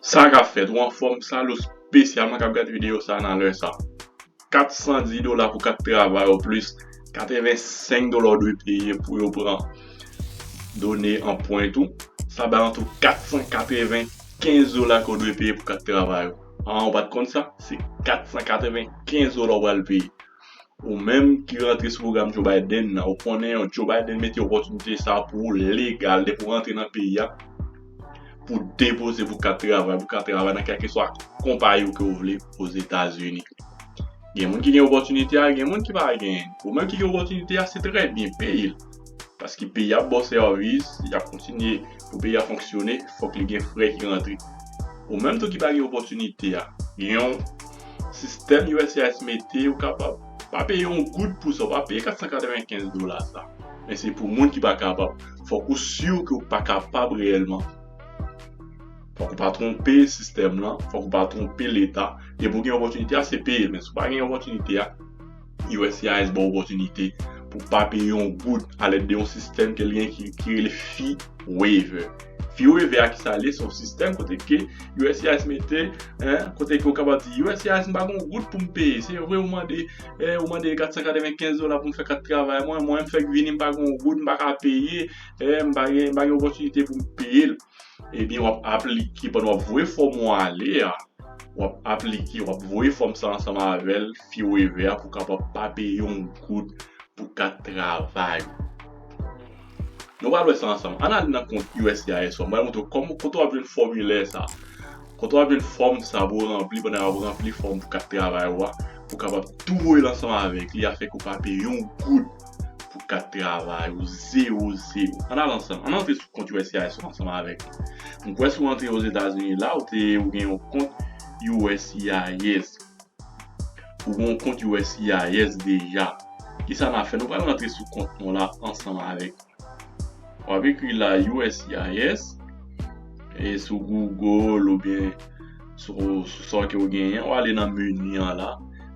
Sa kap fèt ou anfòm sal ou spesyalman kap gad video sa nan lè sa 410 dola pou 4 travay ou plis 85 dola ou dwe peye pou yo pran done anpwent ou sa bay antou 495 dola ke ou dwe peye pou 4 travay ou aa ou pat konn sa se 495 dola ou pral peye Ou menm ki rantre sou pwogram Joe Biden nan, ou konnen yo, Joe Biden mete opòtinite sa pou ou legal depi ou rantre nan peyi a, pou depoze pou kat travay, pou ka travay nan kèlkeswa konpayi ou ke ou vle Ozetazini. Gen moun ki gen opòtinite a, gen moun ki pa genyen. Ou menm ki gen opòtinite a, se trè byen, peye l. Paske peyi a bò sèvis, y ap kontinye pou peyi a fonksyone, fòk li gen frè ki rantre. Ou menm tou ki pa gen opòtinite a, gen yon. sistèm uscis mete ou kapab pa peye yon goud pou sa ou pa peye 495 dola sa men se pou moun ki pa kapab fòk ou sur ke ou pa kapab reyèlman fòk ou pa twonpe sistèm lan fòk ou pa twonpe leta depi ou gen opòtinite a se peye men si ou pa gen opòtinite a USCIS ba w opòtinite pou w pa peye yon goud alèd de yon sistèm ke l gen ki rele Fee Waiver. Fee Waiver a kisa l ye? Se yon sistèm kote ke USCIS mete, kote ke ou kapab di USCIS m pa gen yon goud pou m peye. Se vre ou mande 495 dola pou m fè kat travay mwen, mwen m fèk vini m pa gen yon goud m pa ka peye, m pa gen opòtinite pou m peye l. ebyen wap aplike pandan wap voye fòm ou an ale a wap aplike wap voye fòm sa ansanm avèl fi weve a pou kapab pa peye yon goud pou kat travay ou. Nou pral wè sa ansanm ann al nan kont uscis ou an mwen montre w kòman kote wap jwenn fòmilè sa kote wap jwenn fòm sa pou ranpli pandan wap ranpli fòm pou kat travay ou a pou kapab tou voye l ansanm avèk li afèk ou pa peye yon goud pou kat travay ou zero zero. An al ansanm, an antre sou kont uscis ou ansanm avèk mwen. M kwè si w antre Ozetazini la, ou te ou gen yon kont uscis. Ou gen yon kont uscis deja. Kisa n ap fè? Nou pral rantre sou kont nou la ansanm avèk mwen. W ap ekri la uscis e sou Google oubyen sou sa ke ou genyen, ou ale nan meni an la,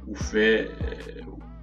ou fè.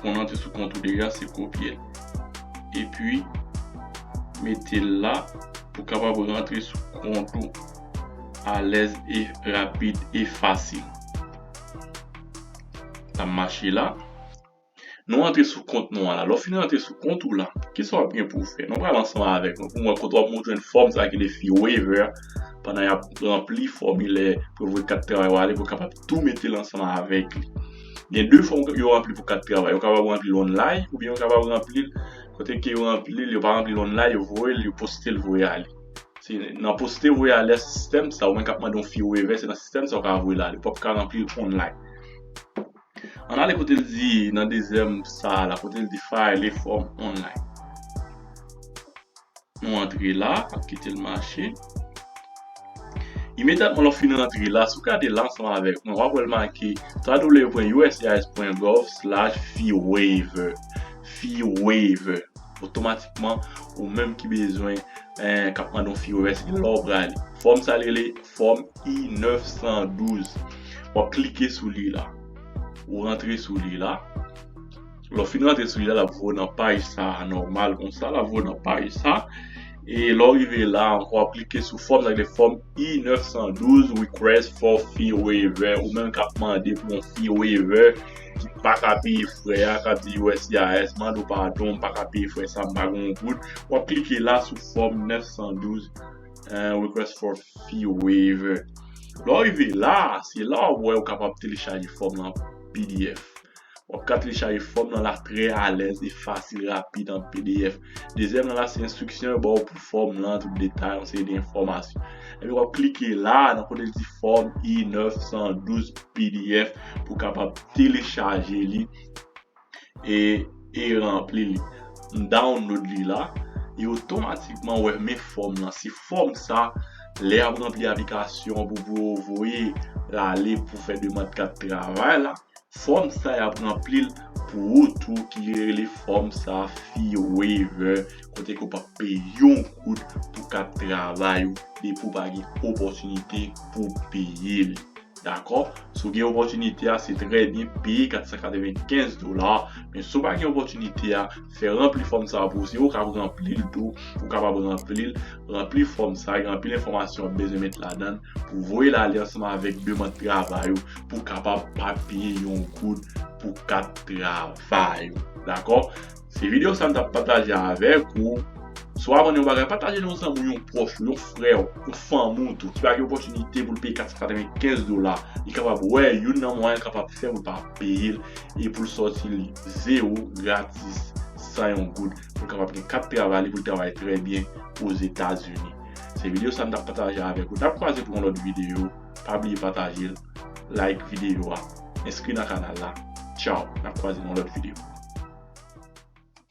Konn an te sou kont ou deja se kopyel epi metel la pou kapab rantre sou kont ou alèz e rapid e fasil. Sa mache la. Nou antre sou kont nou an la. Lè w fin rantre sou kont ou la, kisa wap gen pouw fè? Nou pral ansanm avèk mwen pou mwen kote wap mwen jwenn fòm sa ki de fi waiver pandan yap ranpli fòmilè pou vwe kat travay wale pou kapab tou metel ansanm avèk li. Gen 2 fòm yo ranpli pou kat travay. Yo kapab ranpli l onlay oubyen yo kapab ranpli l kote ke yo ranpli l, yo pa ranpli l onlay, yo voye l, yo poste l voye ale. Se nan poste voye ale a se sistèm sa ou menm k ap mande yon fi revè se nan sistèm sa ou ka voye l ale. Ou pap ka ranpli l onlay. Ann ale kote l di nan dezyèm sa a la, kote l di file a fòm onlay. Nou antre la, ap kite l mache. Imedyatman lè w fin antre la, si w gade la ansanm avèk mwen, w ap wè l make www.uscis.gov/feewaiver. Feewaiver. Otomatikman, ou menm ki bezwen, k ap mande yon fee waiver, se gen lè w prale. Fòm sa rele fòm I-912. W ap klike sou li la. Ou antre sou li la. Lè w fin rantre sou li la, l ap voye w nan paj sa a nòmal konsa, l ap voye w nan paj sa a. E lè w rive la a ankò, w ap klike sou fòm sa ki rele fòm I-912, Request for Fee Waiver, ou menm k ap mande pou yon fee waiver, ki pa ka peye frè a, k ap di uscis, mande w padon, m pa ka peye frè sa a, m pa gen yon goud. W ap klike la sou fòm 912, Request for Fee Waiver. Lè w rive la a, se la a w ap wè ou kapab telechaje fòm lan an pdf. Wap ka telechaje fòm nan la trè alèz e fasil rapid an pdf. Dezyèm nan la se enstriksyon yo baw pou fòm lan, tout detay, yon seri de enfòmasyon. Epi wap klike la nan kote li di fòm I 912 pdf pou kapab telechaje li e e ranpli li. M download li la e otomatikman wè men fòm lan. Se fòm sa lè yap ranpli aplikasyon pou pou yo voye lale pou fè demand kat travay la. Fòm sa yap ranplil pou ou tou ki rele fòm sa fee waiver kote ke ou pap peye yon goud pou kat travay ou depi ou pa gen opòtinite pou peye li dakò si ou gen opòtinite a se trè byen peye 495 dola men si ou pa gen opòtinite a fè ranpli fòm sa pou ou. Se ou k ap ranpli l tou, ou kapab ranpli l. Ranpli fòm sa, gen anpil enfòmasyon w ap bezwen met ladan l pou voye l ale ansanm avèk demand travay ou pou kapab pa peye yon goud pou kat travay ou. Dakò? Se videyo sa m t ap pataje avèk ou. Si w aprann yon bagay, pataje l yon zanmi w, yon pwòch ou, yon frè w, yon fanmi w tou ki pa gen opòtinite pou l peye 495 dola. Li kapab wè youn nan mwayen l kapab fè pou l pa peye l e pou l sòti li. Zewo, gratis, san yon goud, pou l kapab gen kat travay li pou l travay trè byen Ozetazini. Se videyo sa m t ap pataje avèk ou. N ap kwaze pou yon lòt videyo. Pa bliye pataje l, like videyo a, enskri nan kanal la. Tchaw! N ap kwaze nan yon lòt videyo.